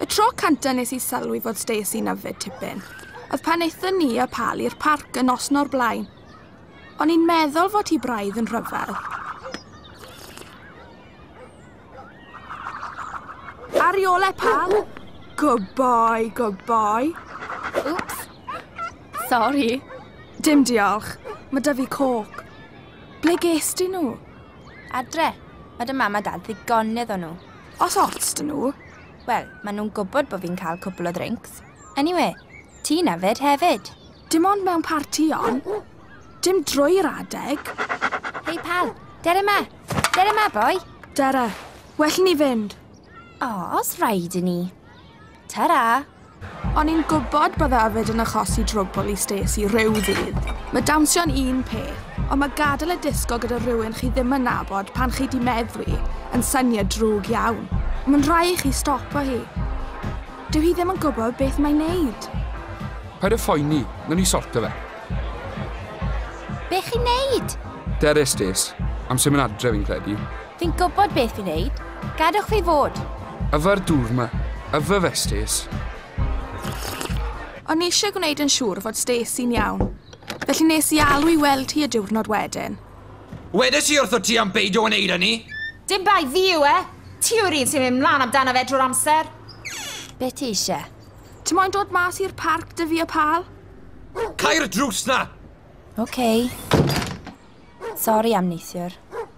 Y tro canta nes i sylwi fod Stacey nyfed tipyn, oedd pan eithon ni a Pal i'r parc yn nos no'r blaen. O'n i'n meddwl fod hi braidd yn rhyfel. Ar ole, Pal! Good boy, good boy. Oops. Sorry. Dim diolch. Mae da fi coc. Ble ges di nhw? Adre. Mae dy mam a dad ddigonydd o nhw. Os ots 'da nhw. Wel, maen nhw'n gwybod bod fi'n cael cwpl o ddrincs. Anyway, ti'n yfed hefyd. Dim ond mewn partïon. Dim drwy'r adeg. Hei pal, dere ma! Dere ma, boi! Dere, well i ni fynd. O, os rhaid i ni. Ta-ra! O'n i'n gwybod bydde yfed yn achosi drwbwl i Stacey rhyw ddydd. Mae dansio'n un peth, ond mae gadael a disgo gyda rhywun chi ddim yn nabod pan chi 'di meddwi yn syniad drwg iawn. Mae'n rhai i chi stopo hi. Dyw hi ddim yn gwybod beth mae'n neud. Paid a phoeni, nawn ni sorto fe. Be chi'n neud? Dere Stace, amser mynd adre fi'n credu. Fi'n gwybod beth fi'n neud. Gadwch fi fod! Yfe'r dŵr 'ma. Yfe fe, Stace? O'n i eisiau gwneud yn siŵr fod Stacey'n iawn. Felly nes i alw i weld hi y diwrnod wedyn. Wedes i wrtho ti am beidio wneud hynny! Dim bai fi yw e! Ti yw'r un sy'n mynd mlan amdano fe drwy'r amser! Be ti eisiau? Ti moyn dod mas i'r parc 'da fi a Pal? Cau'r drws 'na! Ok. Sori am neithiwr.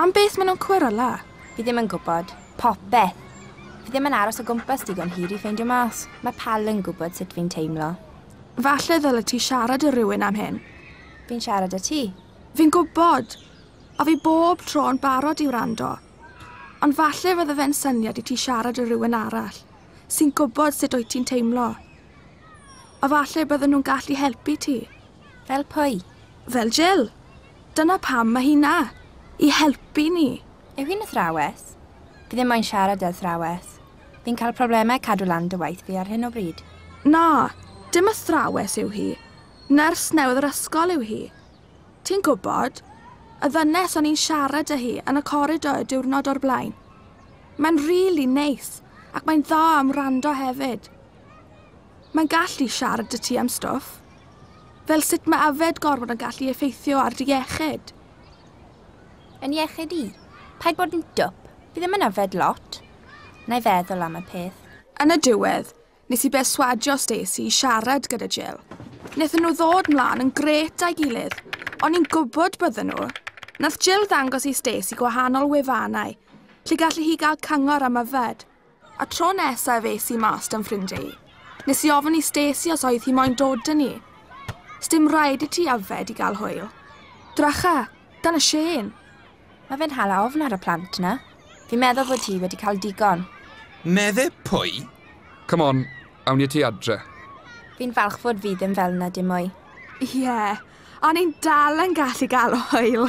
Am beth maen nhw'n cwero, La? Fi ddim yn gwybod. Popeth. Fi ddim yn aros o gwmpas digon hir i ffeindio mas. Mae Pal yn gwybod sut fi'n teimlo. Falle ddylet ti siarad â rhywun am hyn. Fi'n siarad â ti. Fi'n gwybod! A fi bob tro yn barod i wrando. Ond falle fydde fe'n syniad i ti siarad â rhywun arall, sy'n gwybod sut wyt ti'n teimlo. A falle bydden nhw'n gallu helpu ti. Fel pwy? Fel Jill. Dyna pam mae hi 'na! I helpu ni! Yw hi'n athrawes? Fi ddim moyn siarad â athrawes. Fi'n cael problemau cadw lan dy waith fi ar hyn o bryd. Na, dim athrawes yw hi. Nyrs newydd yr ysgol yw hi. Ti'n gwybod, y ddynes o'n i'n siarad â hi yn y coridor y diwrnod o'r blaen. Mae'n rili neis, ac mae'n dda am wrando hefyd. Mae'n gallu siarad 'da ti am stwff. Fel sut mae yfed gormod yn gallu effeithio ar dy iechyd? Yn iechyd i? Paid bod yn dwp, fi ddim yn yfed lot. Na i feddwl am y peth. Yn y diwedd, nes i berswadio Stacey i siarad gyda Jill. Nethon nhw ddod mlan yn grêt a'i gilydd. O'n i'n gwybod bydden nhw. Nath Jill ddangos i Stacey gwahanol wefannau lle gallu hi gael cyngor am yfed. Y tro nesa ef es i mas da'm ffrindiau i. Nes i ofyn i Stacey os oedd hi moyn dod dyn ni. Sdim rhaid i ti yfed i gael hwyl. Dracha, dan y Shane! Mae fe'n hala ofn ar y plant na. Fi'n meddwl fod hi wedi cael digon. Medde pwy? Come on, awn ni ati adre. Fi'n falch fod fi ddim fel na dim mwy. Ie, a ni'n dal yn gallu gael hwyl!